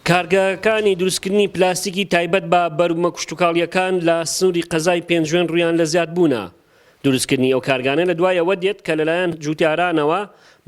کارگەکانی دروستکردنی پلاستیکی تایبەت بە بەرومە کوشتوکاڵیەکان لە سنوری قەزای پێنجوێن ڕویان لە زیاد بوونە. دروستکردنی ئەو کارگانە لە دوای ئەوە دێت کە لەلایەن جوتیارانەوە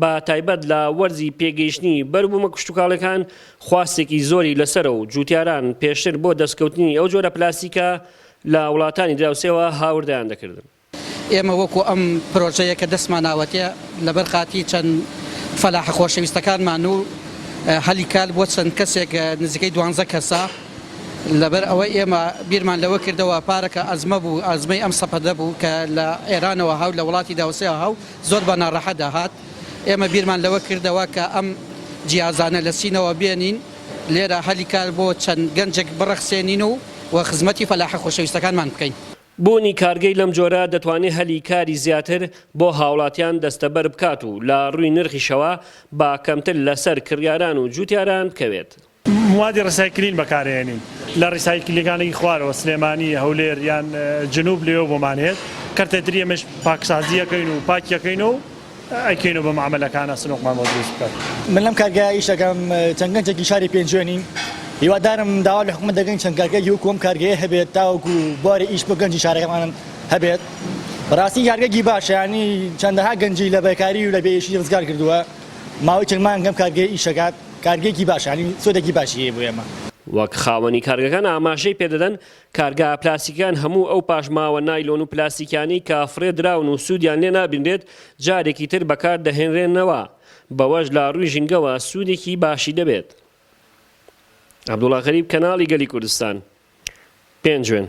بە تایبەت لە وەرزی پێگەیشتنی بەروبوومە کوشتوکاڵەکان خواستێکی زۆری لەسەر و جوتیاران پێشتر بۆ دەستکەوتنی ئەو جۆرە پلاستیکە لە وڵاتانی دراوسێوە هاوردەیان دەکردن. ئێمە وەکو ئەم پرۆژەیە کە دەستماناوەتێ لەبەر خاتری چەند فەلاحە خۆشەویستەکانمان و هەلی کار بۆ چەند کەسێک نزیکەی دوانزە کەسە لەبەر ئەوە ئێمە بیرمان لەوە کردەوە پارەکە ئەزمە بوو ئەزمەی ئەم سەپەدە بوو کە لە ئێرانەوە هاو لە وڵاتی داوسێ هاو زۆر بە ناڕەحەت دەهات ئێمە بیرمان لەوە کردەوە کە ئەم جیازانە لە سینەوە بێنین لێرە هەلی کار بۆ چەند گەنجێک بڕەخسێنین و و خزمەتی فەلاحە خۆشەویستەکانمان بکەین. بوونی کارگەی لەم جۆرە دەتوانێت هەلی کاری زیاتر بۆ هاوڵاتیان دەستەبەر بکات و لە ڕووی نرخیشەوە بە کەمتر لەسەر کڕیاران و جووتیاران بکەوێت. موادی ڕیسایکلین بەکارئەهێنین لە ڕیسایکلینگانێکی خوارەوە، سلێمانی، هەولێر یان جنوب لەوێ بۆمان هێت کەرتێتری ئەمەش پاکسازی ئەکەین و پاکی ئەکەینەوە و ئەکەین و بە مەعمەلەکانە سنوقمان بۆ دروست بکەن. من لەم کارگایە ئیش دەکەم چەند گەنجێکی شاری پێنجوێنین هیوادارم داوا لە حکومەت دەکەین چەند کارگەیەکی وەکو ئەم کارگەیە هەبێت تاوەکو بواری ئیش بۆ گەنجی شارەکەمان هەبێت بەڕاستی کارگەکی باشە ینی چەندەها گەنجی لە بەکاری و لە بێشی ڕزگار کردووە ماوەی چەند مانگەم کارگەی ئیشەکات کارگەیەکی باشانی سۆدەکی باشی هەیە بۆ ئێمە. وەک خاوەنی کارگەکان ئاماژەی پێدەدەن، کارگا پلاستیکەکان هەموو ئەو پاشماوە نایلۆن و پلاستیکانەی کە فڕێ دراون و سوودیان لێ نابینرێت جارێکی تر بەکار دەهێنرێنەوە، بەوەش لە ڕووی ژینگەوە سوودێکی باشی دەبێت. عەبدوڵا غەریب کەناڵی گەلی کوردستان، پێنجوێن.